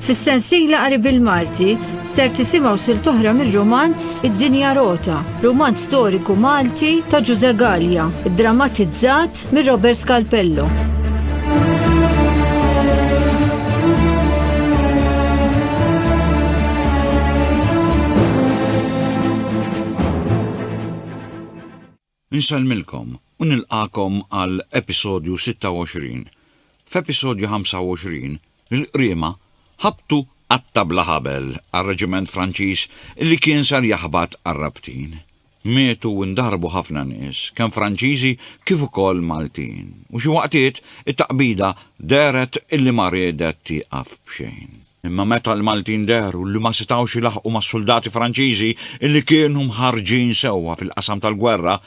Fis-sensiela qari bil-Malti ser tisimgħu sil toħra mir-romanz Id-Dinja Rota, romanz storiku Malti ta' Ġuże Gallia, drammatizzat mir Robert Scalpello. Nsellmilkom u nilqagħkom għal episodju 26. F'episodju 25, il-Qriema ħabtu qatta' bla ħabel għar-reġiment Franċiż li kien ser jaħbat għar-rabtin. Mietu u ndarbu ħafna nies, kemm Franċiżi kif ukoll Maltin, u xi waqtiet it-taqbida dehret illi ma riedet tieqaf b'xejn. Imma meta l-Maltin dehru li ma setgħux ilaħħqu mas-suldati Franċiżi li kienu mħarrġin sewwa fil-qasam tal-gwerra,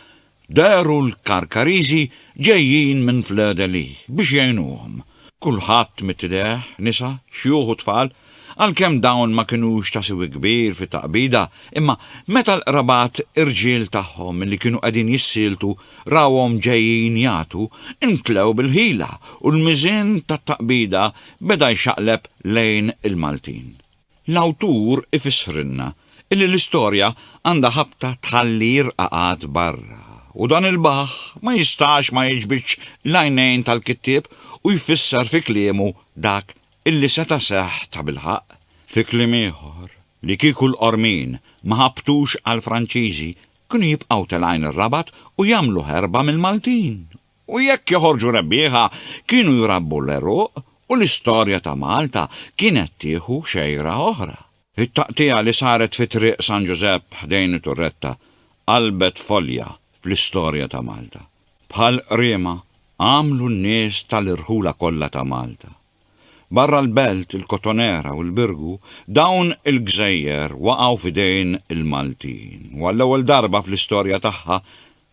dehru l-Karkariżi ġejjin minn Fleur-de-Lys biex jgħinuhom. Kulħadd mit-tideh, nisa, xjuħ u tfal, għalkemm dawn ma kinux ta' siwi kbir fit-taqbida, imma meta l-qrabat irġiel tagħhom li kienu qegħdin jissieltu rawhom ġejjin jagħtu, intlew bil-ħila u l-miżien tat-taqbida beda jxaqleb lejn il-Maltin. L-awtur ifissrilna illi l-istorja għandha ħabta tħalli r-rqaqat barra u dan il-baħħ ma jistax ma jiġbidx l-għajnejn tal-kittieb u jfisser fi kliemu dak illi seta' seħħ tabilħaqq. Fi kliem ieħor, li kieku l-Qormin ma ħabtux għall-Franċiżi kienu jibqgħu telgħin ir-Rabat u jagħmlu ħerba mill-Maltin! u jekk joħorġu rebbieħa kienu jrabbu l-għeruq u l-istorja ta' Malta kienet tieħu xejra oħra. It-taqtigħa li saret fi Triq San Ġużepp ħdejn it-Turretta qalbet folja fl-istorja ta' Malta. Bħal qriema għamlu n-nies tal-irħula kollha ta' Malta. Barra l-Belt, il-Kotonera u l-Birgu, dawn il-gżejjer waqgħu f'idejn il-Maltin u għall-ewwel darba fl-istorja tagħha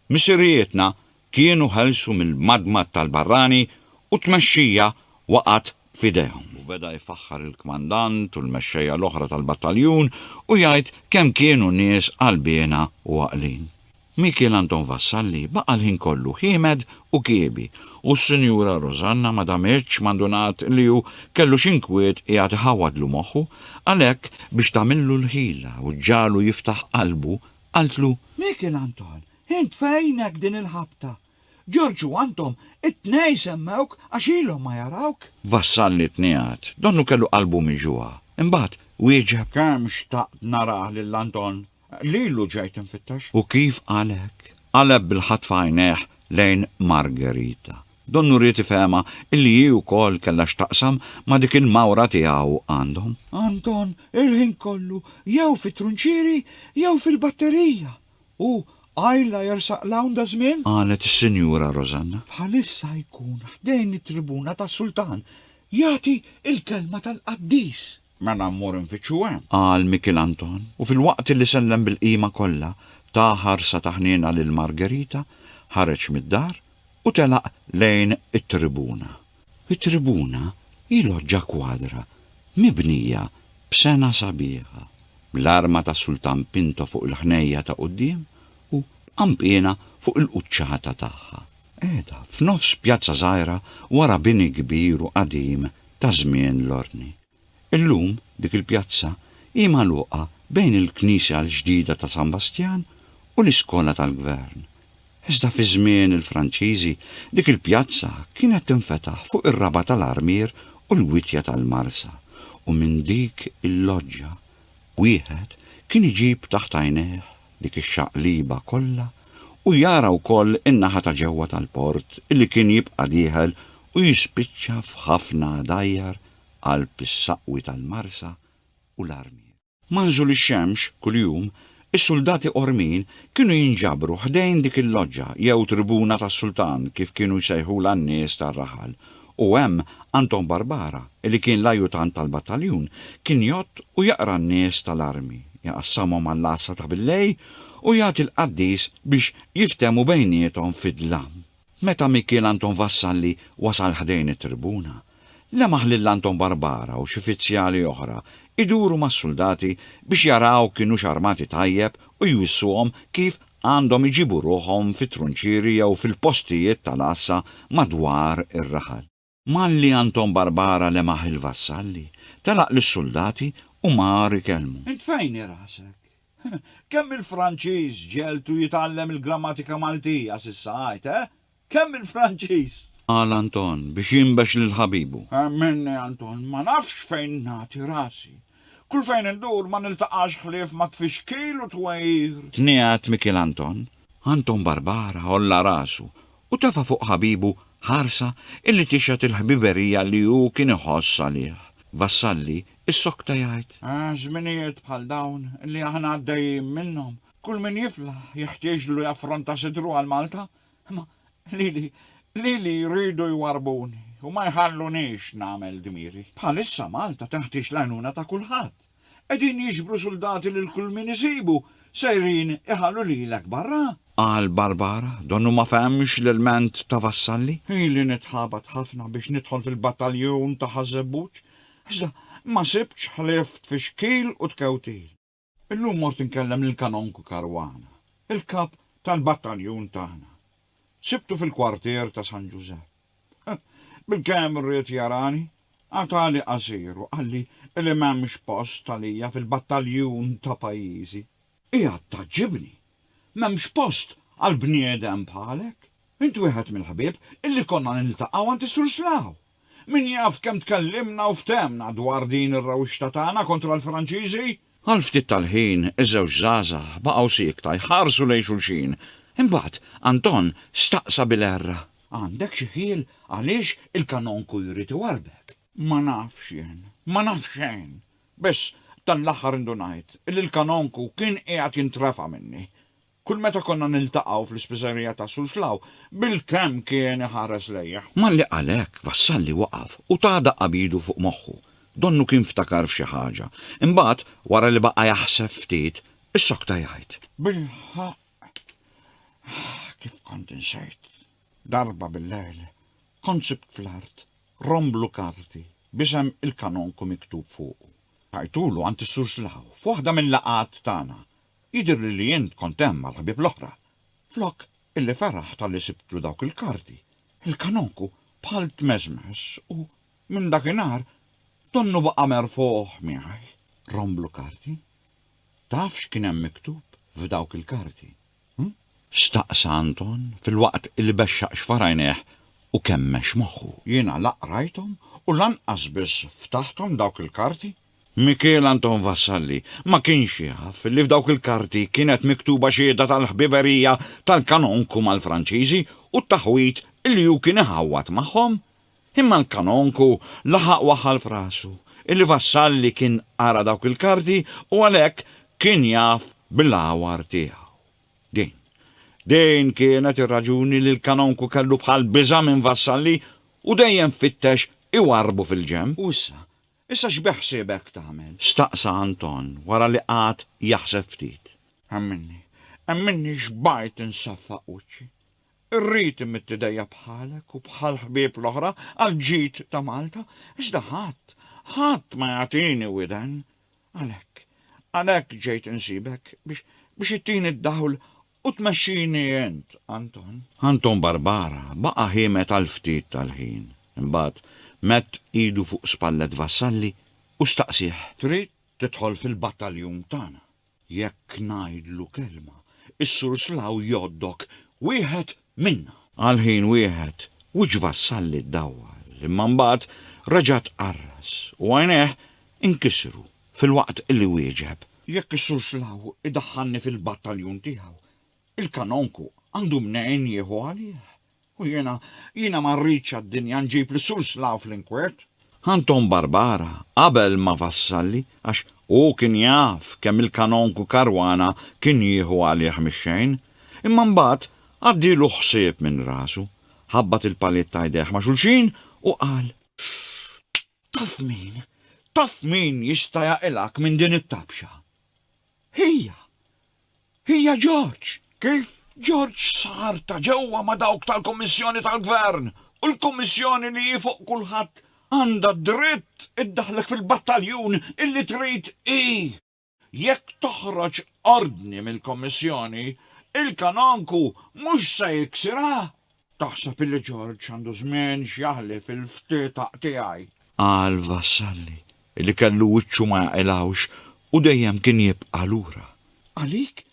Missirijietna kienu ħelsu mill-madmad tal-barrani u t-tmexxija waqgħet f'idejhom. U beda jfaħħar il-kmandant u l-mexxejja l-oħra tal-battaljun u jgħid kemm kienu nies qalbiena u għaqlin. Mikiel Anton Vassalli baqa' l-ħin kollu ħiemed u kiebi u s-Sinjura Rosanna ma damitx ma ndunat li hu kellu xi nkwiet qiegħed iħawwadlu moħħu, għalhekk biex tagħmillu l-ħila u ġġagħlu jiftaħ qalbu Qaltlu, Mikiel Anton, int fejnek din il-ħabta? Ġorġ u Anton, it-tnejn semmewk għax ilhom ma jarawk. Vassalli tniegħed. Donnu kellu qalbu miġugħa. Imbagħad wieġeb. Kemm xtaqt narah lil Anton. Lilu ġejt infittex. U kif qalek? Qaleb bil-ħatfa għajnejh lejn Margherita. Donnu ried ifehemha illi hi wkoll kellha x'taqsam ma' dik il-mawra tiegħu għandhom. Anton il-ħin kollu jew fit-trunċieri jew fil-batterija u qajla jersaq 'l hawn daż-żmien. Qalet is-Sinjura Rosanna. Bħalissa jkun ħdejn it-tribuna tas-Sultan jagħti l-kelma tal-qaddis. Mela mmur infittxu hemm. Qal Mikiel Anton, u filwaqt li sellem bil-qima kollha, ta ħarsa ta' ħniena lil Margherita, ħareġ mid-dar u telaq lejn it-tribuna. It-tribuna hi loġġa kwadra mibnija b'sengħa sabiħa, bl-arma tas-Sultan Pinto fuq il-ħnejja ta' quddiem u b'qanpiena fuq il-quċċata tagħha. Qiegħda f'nofs pjazza żgħira wara bini kbir u qadim ta' żmien l-Ordni. Illum dik il-pjazza hi magħluqa bejn il-knisja l-ġdida ta' San Bastjan u l-iskola tal-gvern. Iżda fi żmien il-Franċiżi dik il-pjazza kienet tinfetaħ fuq ir-raba' tal-armier u l-wittja tal-marsa u minn dik il-loġġa Wieħed kien iġib taħt għajnejh dik ix-xaqliba kollha u jara wkoll in-naħa ta' ġewwa tal-port li kien jibqa' dieħel u jispiċċa f'ħafna dgħajjar qalb is-saqwi tal-marsa u l-armier. Ma' nżul ix-xemx kuljum, is-suldati qormin kienu jinġabru ħdejn dik il-loġġa jew tribuna tas-sultan kif kienu jsejħulha n-nies tar-raħal u hemm Anton Barbara li kien l-ajutant tal-battaljun kien jgħodd u jaqra n-nies tal-armi, jaqassamhom għall-għassa ta' billejl u jagħti l-qaddis biex jiftehmu bejniethom fid-dlam. Meta Mikiel Anton Vassalli wasal ħdejn it-tribuna, lemaħ lil Anton Barbara u xi fizzjali oħra iduru mas-suldati biex jaraw kinux armati tajjeb u jwissuhom kif għandhom iġibu ruħhom fit-trunċieri jew fil-postijiet tal-għassa madwar ir-raħal. Malli Anton Barbara lemaħ il-vassalli, telaq lis-suldati u mar ikellmu. Int fejn hi rasek? Kemm il-Franċiż ġegħeltu jitgħallem il-grammatika Maltija s'issa għid, eh? Kemm il-Franċiż. Qal Anton biex jinbex lil ħabibu. Minni Anton, ma nafx fejn nagħti rasi. Kull fejn indur ma niltaqax ħlief ma' tfixkil u twegħir. Tniegħed Mikiel Anton. Anton Barbara għolla rasu u tefa' fuq ħabibu ħarsa illi tixhed il-ħbiberija li hu kien iħoss għalih. Vassalli issokta jgħid. Żminijiet bħal dawn li aħna għaddejjin minnhom, kull min jiflaħ jeħtieġlu jaffronta sidru għal Malta Imma lili, lili jridu jwarrbuni u ma jħallunix nagħmel dmieri. Bħalissa Malta teħtieġ l-għajnuna ta' kulħadd. Qegħdin jiġbru suldati lil kull min isibu, sejrin iħallu lilek barra! Qal Barbara, donnu ma fehemx l-ilment ta' Vassalli. Ili nitħabat ħafna biex nidħol fil-battaljun ta' Ħaż-Żebbuġ, iżda ma sibtx ħlief tfixkil u tkewtil. Illum mort inkellem lill-Kanonku Caruana, il-kap tal-battaljun tagħna. Sibtu fil-kwartier ta' San Ġużepp. Bilkemm ried jarani, qatagħli qasir u qalli li m'hemmx post għalija fil-battaljun ta' pajjiżi. Qiegħed tgħaġġibni! M'hemmx post għal bniedem bħalek! Int wieħed mill-ħbieb illi konna niltaqgħu għand is-Sur Slaw! Min jaf kemm tkellimna u ftehmna dwar din ir-rewxta tagħna kontra l-Franċiżi? Għal ftit tal-ħin, iż-żewġ żgħażagħ baqgħu siekta jħarsu lejn xulxin. Imbagħad, Anton staqsa bil-għerra. Għandek xi ħjiel għaliex il-kanonku jrid iwarrbek? Ma nafx jien. Ma naf xejn. Biss, dan l-aħħar indunajt li l-kanonku kien qiegħed jintrefa' minni. Kull meta konna niltaqgħu fl-ispiżerija ta' Suġlaw, bilkemm kien iħares lejja. Malli qal hekk, Vassalli waqaf u ta daqqa b'idu fuq moħħu. Donnu kien ftakar f'xi ħaġa. Imbagħad, wara li baqa' jaħseb ftit, issokta jgħid. Bilħaqq, kif kont insejt! Darba billejl, kont sibt fl-art rom blu karti b'isem il-Kanonku miktub fuqu. Tajtulu għand is-Suġlaw f'waħda mil-laqgħat tagħna. Jidhirli li int kont hemm mal-ħbieb l-oħra. Flok illi feraħ talli sibtlu dawk il-karti, il-kanonku bħal tmeżmeż u, minn dakinhar, donnu baqa' merfugħ miegħi romblu karti. Taf x'kien hemm miktub f'dawk il-karti, hm? Staqsa Anton filwaqt illi bexxaq xfar għajnejh u kemmex moħħu. Jiena la qrajthom u lanqas biss ftaħthom dawk il-karti. Mikiel Anton Vassalli ma kienx jaf li f'dawk il-karti kienet miktuba xhieda tal-ħbiberija tal-kanonku mal-Franċiżi u t-taħwid li hu kien iħawwad magħhom. Imma l-kanonku laħaq waħħal f'rasu li Vassalli kien qara dawk il-karti u għalhekk kien jaf bil-għawar tiegħu. Din, din kienet ir-raġuni li l-kanonku kellu bħal biża' minn Vassalli u dejjem fittex iwarrbu fil-ġenb. U issa, Issa x'beħsiebek tagħmel? staqsa Anton wara li qagħad jaħseb ftit. Emminni, emminni xbajt insaffaq wiċċi. Irrid imidd idejja bħalek u bħall-ħbieb l-oħra għall-ġid ta' Malta, iżda ħadd, ħadd ma jagħtini widen. Għalhekk, għalhekk ġejt insibek biex, biex ittini d-dawl U tmexxini int, Anton. Anton Barbara baqa' ħiemet għal ftit tal-ħin. Imbagħad medd idu fuq spallet Vassalli u staqsieh. Trid tidħol fil-battaljun tagħna? Jekk ngħidlu kelma, is-Sur Slaw jgħoddok wieħed minna. Għal ħin wieħed, wiċċ Vassalli ddawwal, imma mbagħad reġa' tqarras u għajnejh inkisru. Filwaqt li wieġeb. Jekk is-Sur Schlaw idaħħalni fil-battaljun tiegħu, il-Kanonku għandu mnejn jieħu għalih. U jiena, jiena ma rridx għad-dinja nġib lis-Sur Schlaw fl-inkwiet. Anton Barbara qabel ma' Vassalli għax hu kien jaf kemm il-Kanonku Caruana kien jieħu għalih mix-xejn. Imma mbagħad għaddielu ħsieb minn rasu, ħabbat il-paliet ta' jdejh ma' xulxin u qal. Pff! Taf min, taf min jista' jaqilgħek minn din it-tabxa? Hija, hija George. Kif George sar ta' ġewwa ma' dawk tal-Kummissjoni tal-Gvern u l-Kummissjoni li hi fuq kulħadd għandha d-dritt iddaħħlek fil-battaljun illi trid hi. Jekk toħroġ ordni mill-Kummissjoni, il-kanonku mhux se jiksirha? Taħseb illi George għandu żmien x'jaħlif il-ftitaq tiegħi? Qal Vassalli illi kellu wiċċu ma jaqilgħux u dejjem kien jibqa' lura. Għalik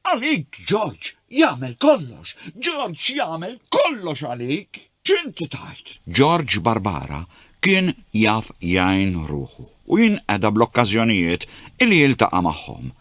Għalik George jagħmel kollox, George jagħmel kollox għalik! X'inti tgħid? George Barbara kien jaf jgħin ruħu u jinqeda bl-okkażjonijiet li jiltaqa' magħhom.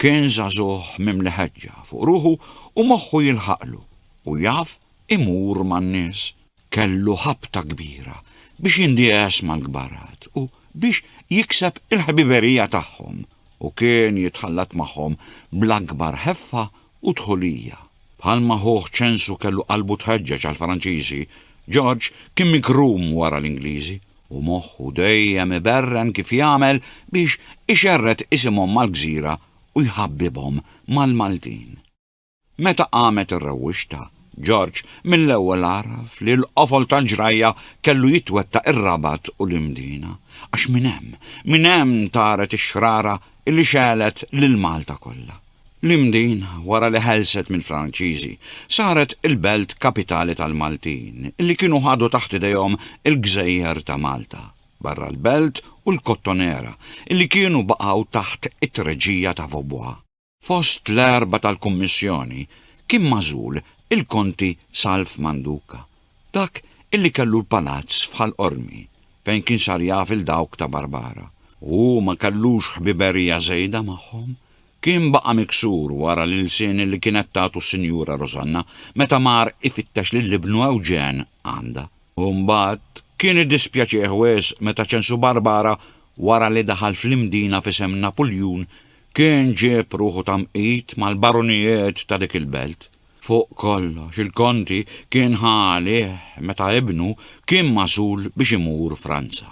Kien żagħżugħ mimli ħeġġa fuq ruħu u moħħu jilħaqlu u jaf imur man-nies. Kellu ħabta kbira biex jindiegħes mal-kbarat u biex jikseb il-ħbiberija tagħhom. u kien jitħallat magħhom bl-akbar ħeffa u dħulija. Bħalma ħuh Ċensu kellu qalbu tħeġġeġ għall-Franċiżi, Ġorġ kien mikrum wara l-Ingliżi u moħħu dejjem iberren kif jagħmel biex ixerred isimhom mal-gżira u jħabbibhom mal-Maltin. Meta qamet ir-rewwixta, George mill-ewwel għaraf li l-qofol tal-ġrajja kellu jitwettaq ir-Rabat u l-Imdina, għax minn hemm, minn hemm taret ix-xrara li xegħlet lil Malta kollha. L-Imdina, wara li ħelset mill-Franċiżi, saret il-belt kapitali tal-Maltin li kienu ħadu taħt idejhom il-gżejjer ta' Malta, barra l-belt u l-Kottonera li kienu baqgħu taħt it-treġija ta' Vaubois. Fost l-erbgħa tal-Kummissjoni kien magħżul il-Konti Salv Manduca, dak illi kellu l-palazz f'Ħal Qormi, fejn kien sar jaf il dawk ta' Barbara. U hu ma kellux ħbiberija żejda magħhom? Kien baqa' miksur wara l-ilsien illi kienet tagħtu s-Sinjura Rosanna meta mar ifittex lil ibnu Ewġen għandha. U mbagħad kien iddispjaċih wisq meta ċensu Barbara wara li daħal fl-Imdina f'isem Napuljun Kien ġieb ruħu ta' mqit mal-barunijiet ta' dik il-belt. Fuq kollox, il-Konti kien ħa għalih meta ibnu kien magħżul biex imur Franza.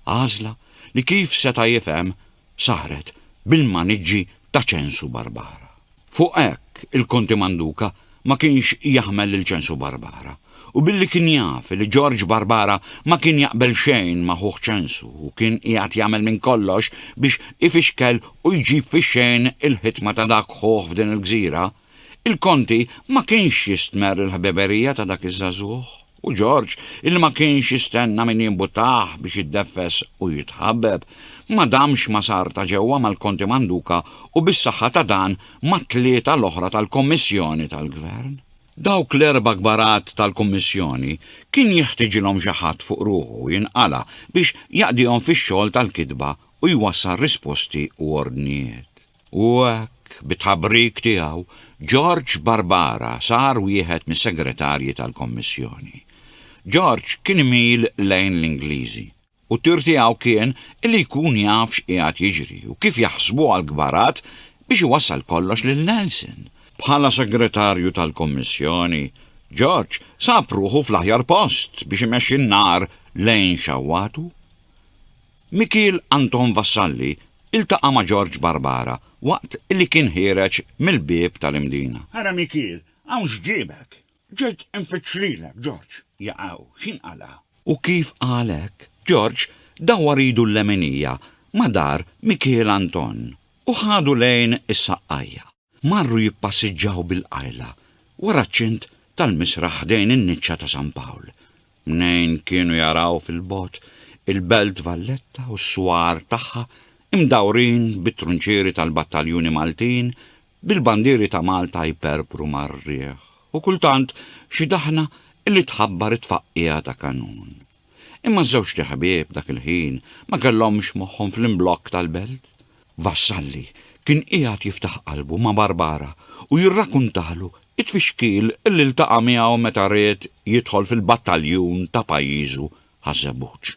Għażla li kif seta' jifhem saret bil-maniġġi ta' ċensu barbara. Fuq hekk, il-Konti Manduka ma kienx jaħmel lil Ċensu Barbara, u billi kien jaf li Ġorġ Barbara ma kien jaqbel xejn ma' ħuh Ċensu u kien qiegħed jagħmel minn kollox biex ifixkel u jġib fix-xejn il-ħitma ta' dak ħuh f'din il-gżira, il-Konti ma kienx jistmerr il-ħbiberija ta' dak iż-żagħżugħ. U George, illi ma kienx jistenna min jimbuttah biex jiddeffes u jitħabbeb, ma damx ma sar ta' ġewwa mal-Konti Manduka u bis-saħħa ta' dan mat-tlieta l-oħra tal-Kommissjoni tal-Gvern. Dawk l-erba' kbarat tal-Kummissjoni kien jeħtiġilhom xi ħadd fuq ruħu jinqala' biex jaqdihom fix-xogħol tal-kitba u jwassal risposti u ordnijiet. U hekk, bit-tħabrik tiegħu, George Barbara sar wieħed mis-Segretarji tal-Kommissjoni. George kien imil lejn l-Ingliżi, u t-tir tiegħu kien li jkun jaf x'qiegħed jiġri u kif jaħsbuha l-kbarat biex iwassal kollox lil Nelson. Bħala Segretarju tal-Kommissjoni, George sab ruħu fl-aħjar post biex imexxi n-nar lejn xawwatu. Mikiel Anton Vassalli ltaqa' ma' Ġorġ Barbara waqt li kien ħiereġ mill-bieb tal-Imdina. Ara Mikiel, hawn x'ġiebek? Ġejt infittx lilek, Ġorġ. Jaqaw, x'inqala'? U kif qal hekk, Ġorġ dawwar idu l-leminija ma' dar Mikiel Anton u ħadu lejn is-saqqajja. Marru jippassiġġaw bil-qajla wara ċ-ċint tal-misraħ ħdejn in-niċċa ta' San Pawl. Mnejn kienu jaraw fil-bogħod il-Belt Valletta u s-swar tagħha imdawrin bit-trunċieri tal-battaljuni Maltin bil-bandieri ta' Malta jperpru mar-riħ u kultant xi daħna li tħabbar it-tfaqqiegħa ta' kanun. Imma ż-żewġt ħbieb dak il-ħin ma kellhomx moħħhom fl-imblokk tal-belt. Vassalli kien qiegħed jiftaħ qalbu ma' Barbara u jirrakuntalu t-tfixkil li ltaqa' miegħu meta ried jidħol fil-battaljun ta' pajjiżu Ħaż-Żebbuġ.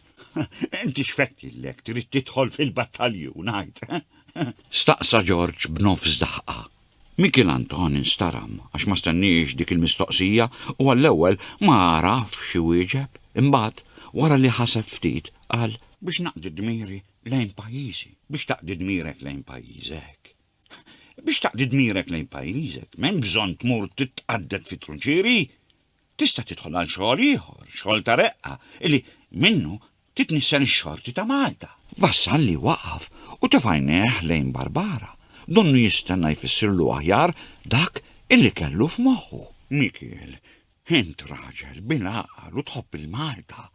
Inti x'fett lilek trid tidħol fil-battaljun, għid? Staqsa Ġorġ b'nofs daħqa. Mikiel Anton instaram għax ma stenniex dik il-mistoqsija u għall-ewwel ma għarafx iwieġeb, imbagħad, wara li ħaseb ftit, qal, Biex naqdi dmiri lejn pajjiżi. Biex taqdi dmirek lejn pajjiżek. Biex taqdi dmirek lejn pajjiżek, m'hemm bżonn tmur titqadded fit-trunċieri. tista' tidħol għal xogħol ieħor, xogħol ta' reqqa, illi minnu titnissen ix-xorti ta' Malta. Vassalli waqaf u tefa' għajnejh lejn Barbara, donnu jistenna jfissirlu aħjar dak illi kellu f'moħħu. Mikiel, int raġel bil-għaqal u tħobb il-Malta.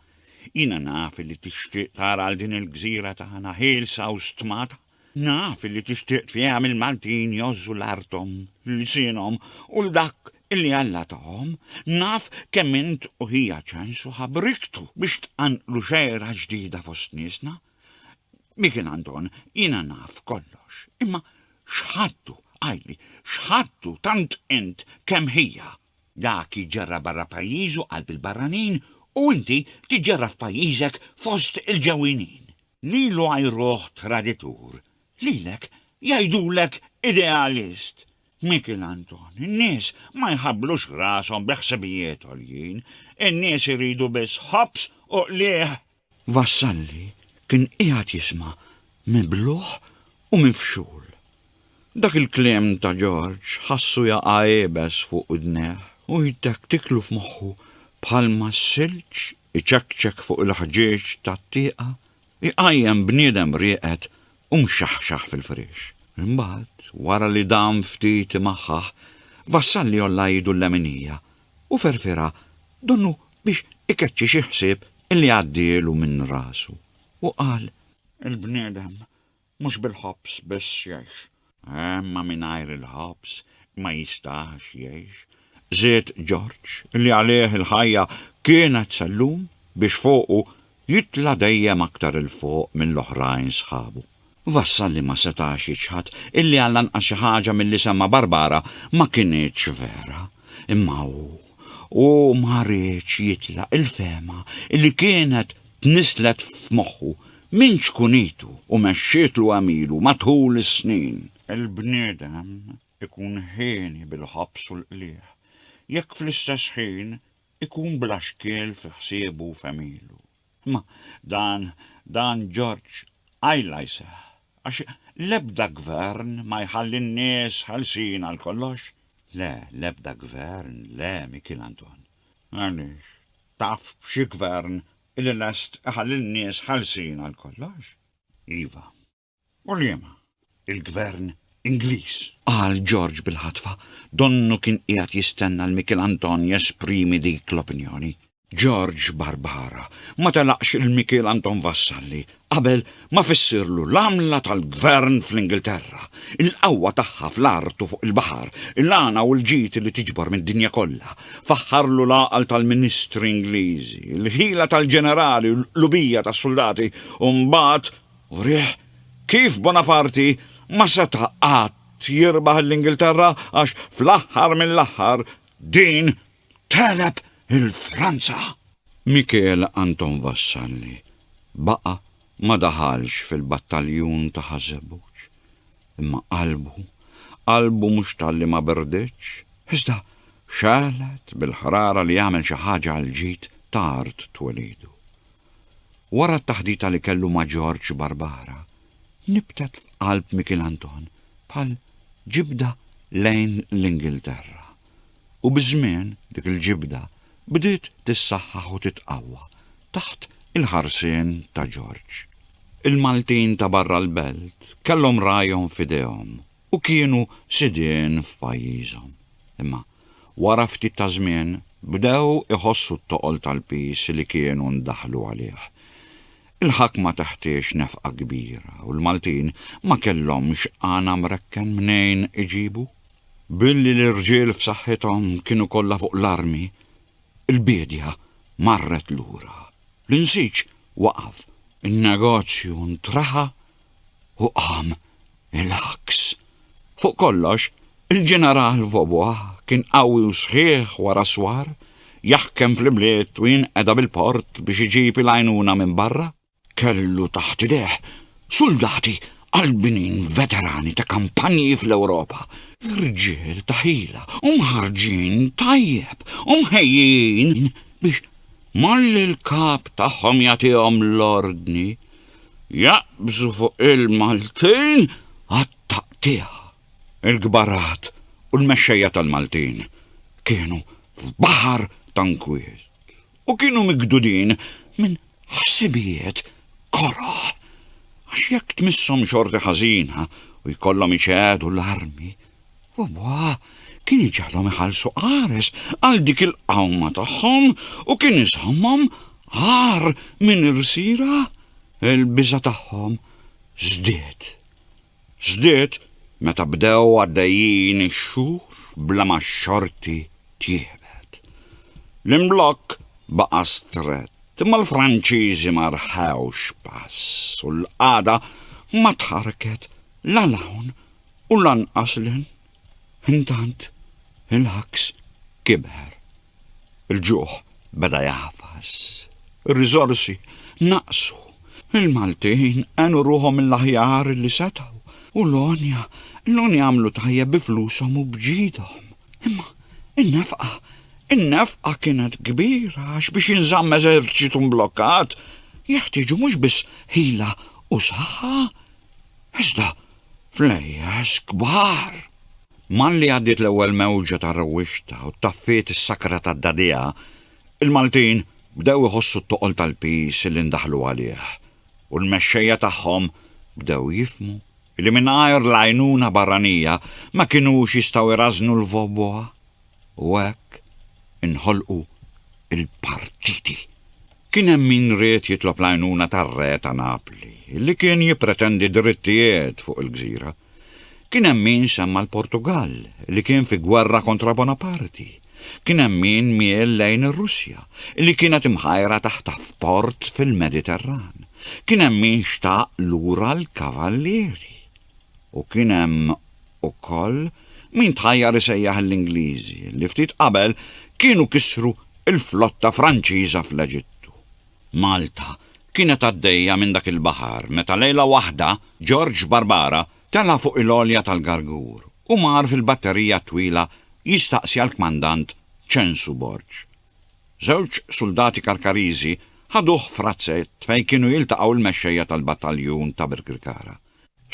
Jiena naf illi tixtieq tara 'l din il-gżira tagħna ħielsa u stmata. Naf li tixtieq tfiehem il-Maltin jgħożżu l-arthom, lsienhom u 'l dak li Alla tahom. Naf kemm int u ħija ċensu ħabriktu biex tqanqlu xegħra ġdida fost niesna. Mikin Anton, jiena naf kollox, imma x'ħadtu, għidli, x'ħadtu tant int kemm ħija? Dak jiġġarrab barra pajjiżu qalb il-barranin u inti tiġġarrab f'pajjiżek fost il-ġewwinin. Lilu għajruh traditur, lilek jgħidulek idealist! Mikiel Anton, In-nies ma jħabblux rashom bi ħsibijiet għoljin, in-nies iridu biss ħobż u qliegħ! Vassalli kien qiegħed jisma' mibluħ u mifxul. Dak il-kliem ta' Ġorġ ħassu jaqa' iebes fuq udnejh u jtektiklu f'moħħu bħalma s-silġ iċekċek fuq il-ħġieġ tat-tieqa jqajjem bniedem rieqed u mxaħxaħ fil-friex. Imbagħad, wara li dam ftit imaħħaħ, Vassalli għolla idu l-leminija u ferfirha donnu biex ikeċċi xi ħsieb li għaddielu minn rasu u qal, Il-bniedem Mhux bil-ħobż biss jgħix. Imma mingħajr il-ħobż ma jistax jgħix, żied Ġorġ, li għalih il-ħajja kienet sellum biex fuqu jitla' dejjem aktar 'il fuq mill-oħrajn sħabu. Vassalli ma setax jiċħad illi għall-anqas xi ħaġa milli semma' Barbara ma kinitx vera, imma hu, hu ma riedx jitlaq il-fehma illi kienet tnisslet f'moħħu minn ċkunitu u mexxietlu għamilu matul is-snin. Il-bniedem ikun hieni bil-ħabs u l-qligħ jekk fl-istess ħin ikun bla xkiel fi ħsiebu u f'għemilu. Imma dan dan George qajla jseħħ għax l-ebda gvern ma jħalli n-nies ħelsin għal kollox. Le, l-ebda gvern, le, Mikiel Anton. Għaliex? Taf xi gvern li lest iħalli n-nies ħelsin għal kollox? Iva. U liema? Il-gvern Ingliż! Qal George bil-ħatfa, donnu kien qiegħed jistenna 'l Mikiel Anton jesprimi dik l-opinjoni. George Barbara ma telaqx 'l Mikiel Anton Vassalli Qabel ma fissirlu l-għamla tal-gvern fl-Ingilterra, il-qawwa tagħha fl-art u fuq il-baħar, il-għana u l-ġid li tiġbor mid-dinja kollha, faħħarlu l-għaqal tal-ministri Ingliżi, il-ħila tal-ġenerali u l-qlubija tas-suldati u mbagħad urih kif Bonaparti ma seta' qatt jirbaħ 'l Ingilterra għax fl-aħħar mill-aħħar din tegħleb il-Franza. Michel Anton Vassalli baqa' ma daħalx fil-battaljun ta' Ħaż-Żebbuġ. Imma qalbu, qalbu mhux talli ma berditx, iżda xegħlet bil-ħrara li jagħmel xi ħaġa għall-ġid ta' art twelidu. Wara t-taħdita li kellu ma' Ġorġ Barbara, nibtet f'qalb Michel Anton bħal ġibda lejn l-Ingilterra. u biż-żmien dik il-ġibda bdiet tissaħħaħ u titqawwa taħt il-ħarsien ta' Ġorġ. Il-Maltin ta' barra l-belt kellhom ragħajhom f'idejhom u kienu sidien f'pajjiżhom. Imma wara ftit ta' żmien bdew iħossu t-toqol tal-piż li kienu ndaħlu għalih. Il-ħakma teħtieġ nefqa kbira u l-Maltin ma kellhomx għana mrekken mnejn iġibu. Billi l-irġiel f'saħħithom kienu kollha fuq l-armi, il-biedja marret lura, l-insiġ waqaf, in-negozju ntraħa u qam il-għaks. Fuq kollox, il-Ġeneral Vaubois kien qawwi u sħiħ wara s-swar, jaħkem fl-ibliet u jinqeda bil-port biex iġib il-għajnuna minn barra. Kellu taħt idejh suldati Qalbinin veterani ta' kampanji fl-Ewropa, rġiel ta' ħila u mħarrġin tajjeb u mħejjijin biex malli l-kap tagħhom jagħtihom l-ordni, jaqbżu fuq il-Maltin għat-taqtigħa. Il-kbarat u l-mexxejja tal-Maltin kienu f'baħar ta' nkwiet. u kienu migdudin minn ħsibijiet koroh, għax jekk tmisshom xorti ħażina u jkollhom iċedu l-armi, Yahweh kien iġegħlhom iħallsu qares għal dik il-qawma tagħhom u kien iżommhom agħar minn irsiera, il-biża' tagħhom żdied. Żdied meta bdew għaddejjin ix-xhur bla ma x-xorti tjiebet. L-imblokk baqa' strett imma l-Franċiżi ma rħewx pass u l-qagħda ma tħarrket la 'l hawn u lanqas 'l hinn. Intant il-ħaks kibher, il-ġuħ beda jagħfas, ir-riżorsi naqsu, il-Maltin għenu ruħhom mill-aħjar li setgħu u l-għonja, l-għonja għamlu tajjeb bi flushom u b'ġidhom. Imma in-nefqa, in-nefqa kienet kbira għax biex jinżamm eżerċitu mblokkat jeħtieġu mhux biss ħila u saħħa, iżda Flejjes kbar! Malli għaddiet l-ewwel mewġa ta' rewwixta u ttaffiet is-sakra tad-dagħdigħa, il-Maltin bdew iħossu t-toqol tal-piż li ndaħlu għalih u l-mexxejja tagħhom bdew jifhmu li mingħajr l-għajnuna barranija ma kinux jistgħu jrażżnu l-Voboa. U hekk inħolqu l-partiti. Kien hemm min ried jitlob l-għajnuna tar-re ta' Napli, li kien jippretendi drittijiet fuq il-gżira. Kien hemm min semma' l-Portugall, li kien fi gwerra kontra Bonaparti. Kien hemm min miel lejn ir-Russja, li kienet imħajra taħt f'port fil-Mediterran. Kien hemm min xtaq lura l-Kavallieri. U kien hemm ukoll min tħajjar isejjaħ l-Ingliżi li ftit qabel kienu kissru l-flotta Franċiża fl-Eġittu. Malta kienet għaddejja minn dak il-baħar meta lejla waħda George Barbara tela' fuq il-għolja tal-gargur u mar fil-batterija t-twila jistaqsi għall-kmandant Ċensu Borg. Żewġ suldati Karkariżi ħaduh f'razzett fejn kienu jiltaqgħu l-mexxejja tal-battaljun ta' Birkirkara.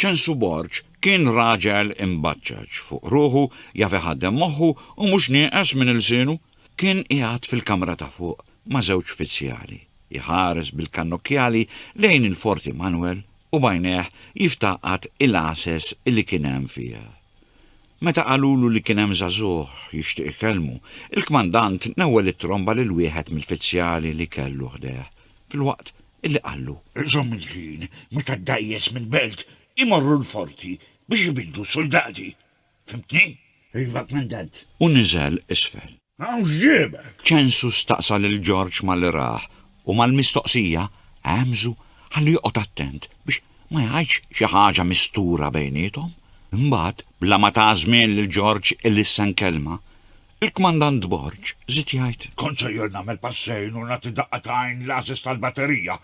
Ċensu Borg kien raġel imbaċċaċ fuq ruħu, jaf iħaddem moħħu u mhux nieqes minn ilsienu. Kien qiegħed fil-kamra ta' fuq ma' żewġ fizzjali, iħares bil-kannokjali lejn il-Forti Manwel u b'għajnejh jiftaqat il-għases li kien hemm fiha. Meta qalulu li kien hemm żagħżugħ jixtieq ikellmu, il-kmandant newwel it-tromba lil wieħed mill-fizzjali li kellu ħdejh, filwaqt Illi qallu, Żomm il-ħin meta d-dgħajjes mill-belt imorru l-forti biex ibiddlu s-suldati. Fhimtni? Iva, Kmandant. U niżel isfel. Hawn x'ġiebek? Ċensu staqsa lil Ġorġ malli rah u mal-mistoqsija għemżu ħalli joqgħod attent biex ma jgħidx xi ħaġa mistura bejniethom. Imbagħad, bla ma ta żmien lil Ġorġ ilissen kelma, Il-Kmandant Borg żied jgħid. Kont sejjer nagħmel passejn u nagħti daqqa ta' għajn l-għażiż tal-batterija.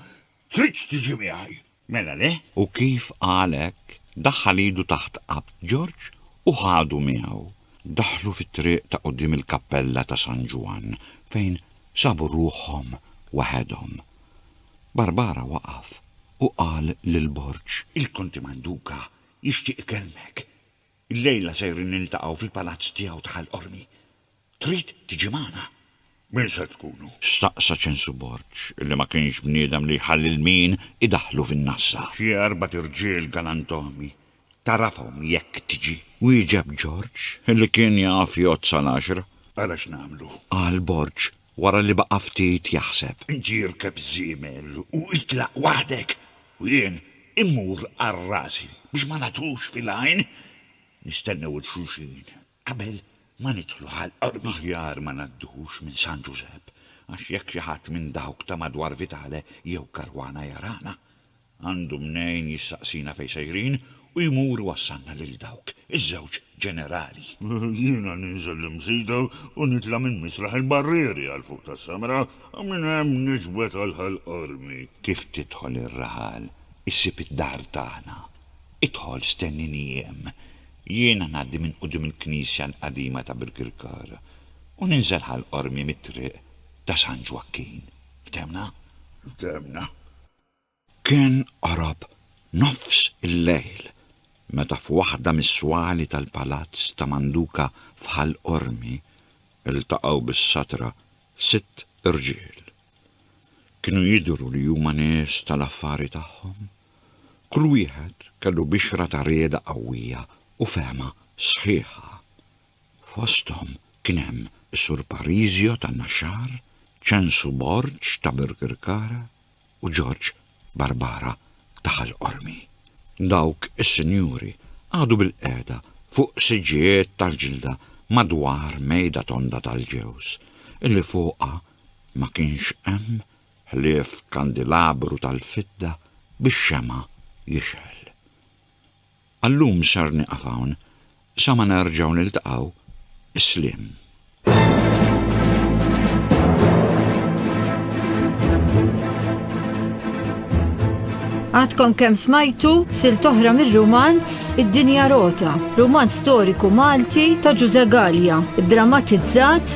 Tridx tiġi miegħi? Mela le! U kif qal hekk, daħħal idu taħt qabt George u ħadu miegħu. Daħlu fit-triq ta' quddiem il-kappella ta' San Ġwann fejn sabu ruħhom waħedhom. Barbara waqaf u qal lil Borg. Il-Konti Manduca jixtieq ikellmek. Illejla sejrin niltaqgħu fil-palazz tiegħu ta' Ħal Qormi. Trid tiġi magħna? Min se tkunu? staqsa Ċensu Borg, li ma kienx bniedem li jħalli lil min idaħħlu fin-nassa. Xi erbat irġiel galantomi. Tagħrafhom jekk tiġi? wieġeb Ġorġ, li kien jaf jgħodd sal-għaxra. Ara x'nagħmlu! qal Borg, Wara li baqa' ftit jaħseb. Ġie irkeb żiemel u itlaq waħdek u jien immur għal rasi biex ma nagħtux fil-għajn nistennew 'il xulxin qabel ma nidħlu għall-qormi. Aħjar ma ngħaddux minn San Ġużepp għax jekk xi ħadd minn dawk ta' madwar Vitale jew Caruana jarana, Għandu mnejn jistaqsina fejn sejrin u jmur iwassalna lil dawk iż-żewġ ġenerali. Jiena ninżel l-imsida u nitla' minn misraħ il-barrieri għal fuq tas-samra u minn hemm niġbed għal Ħal Qormi. Kif tidħol ir-raħal, issib id-dar tagħna. Idħol stennini hemm. Jiena ngħaddi minn quddiem il-knisja l-qadima ta' Birkirkar u ninżel Ħal Qormi mit-triq ta' San Ġwakkin. Ftehmna? Ftehmna. Kien qorob nofs il-lejl meta f'waħda mis-swali tal-palazz ta' Manduka f'Ħal Qormi ltaqgħu bis-satra sitt irġiel. Kienu jidhru li huma nies tal-affari tagħhom. Kull wieħed kellu bixra ta' rieda qawwija u fehma sħiħa. Fosthom kien hemm is-Sur Parisio ta' Naxxar, Ċensu Borg ta' Birkirkara, u Ġorġ Barbara ta' Ħal Qormi. Dawk is-sinjuri qagħdu bilqiegħda fuq siġġijiet tal-ġilda madwar mejda tonda tal-ġewż, illi fuqha ma kienx hemm ħlief kandilabru tal-fidda bix-xemgħa jixgħel. Għal-lum sar nieqaf hawn, sa ma nerġgħu niltaqgħu, sliem. Għadkom kemm smajtu sil toħra mir-rumanz Id-Dinja Rota, rumanz storiku Malti ta' Ġuże Galja, drammatizzat